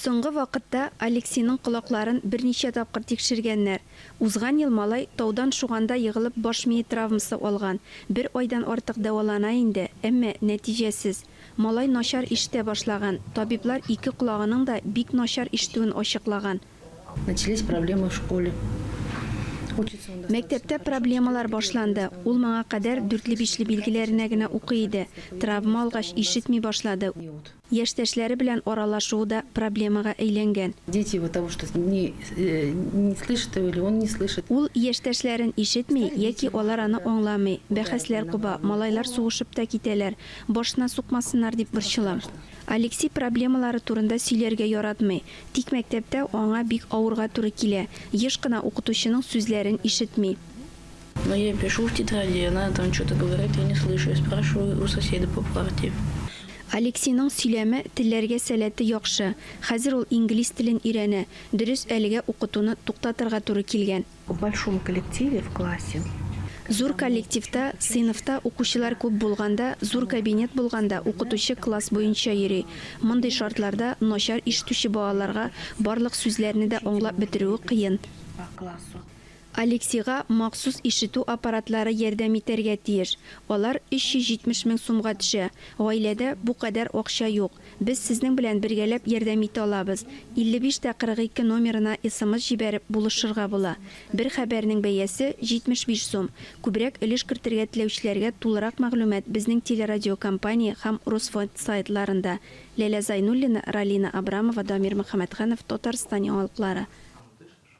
Соңгы вакытта Алексиның колакларын берничә тапкыр тикшергәннәр. Узган ел малай таудан шуганда егылып баш мие травмасы алган, бер айдан артык дәвалана инде, әмма нәтиҗәсез. Малай начар ишетә башлаган, табиблар ике колагының да бик начар ишетүен ачыклаган. Мәктәптә проблемалар башланды. Ул моңа кадәр дүртле-бишле билгеләренә генә укый иде. Травма алгач, ишетми башлады. Яшьтәшләре белән аралашуы да проблемага әйләнгән. Ул яшьтәшләрен ишетми яки алар аны аңламый, бәхәсләр куба, малайлар сугышып та китәләр, башына сукмасыннар дип борчылам. Алексей проблемалары турында сөйләргә яратмый, Тик мәктәптә аңа бик авырга туры килә, еш кына укытучының сүзләрен ишетми. Но я пишу в тетради, а она там чё-то говорит, я не слышу, я спрашиваю у соседа по парте. Алексиның сөйләме, телләргә сәләте яхшы. Хәзер ул инглиз телен өйрәнә. Дөрес, әлегә укытуны туктатырга туры килгән. В большом коллективе в классе. Зур коллективта, сыйныфта укучылар күп булганда, зур кабинет булганда укытучы класс буенча йөри. Мондый шартларда начар ишетүче балаларга барлык сүзләрне дә аңлап бетерүе кыен. Алексига махсус ишетү аппаратлары ярдәм итәргә тиеш. Алар 370 мең сумга төшә. Гаиләдә бу кадәр акча юк. Без сезнең белән бергәләп ярдәм итә алабыз. 55 тә 42 номерына смс җибәреп, булышырга була. Бер хәбәрнең бәясе, 75 сум. Күбрәк өлеш кертергә теләүчеләргә тулырак мәгълүмат безнең телерадиокомпания һәм Русфонд сайтларында. Ләлә Зайнуллина, Ралина Абрамова, Дамир Мөхәммәтханов, Татарстан яңалыклары.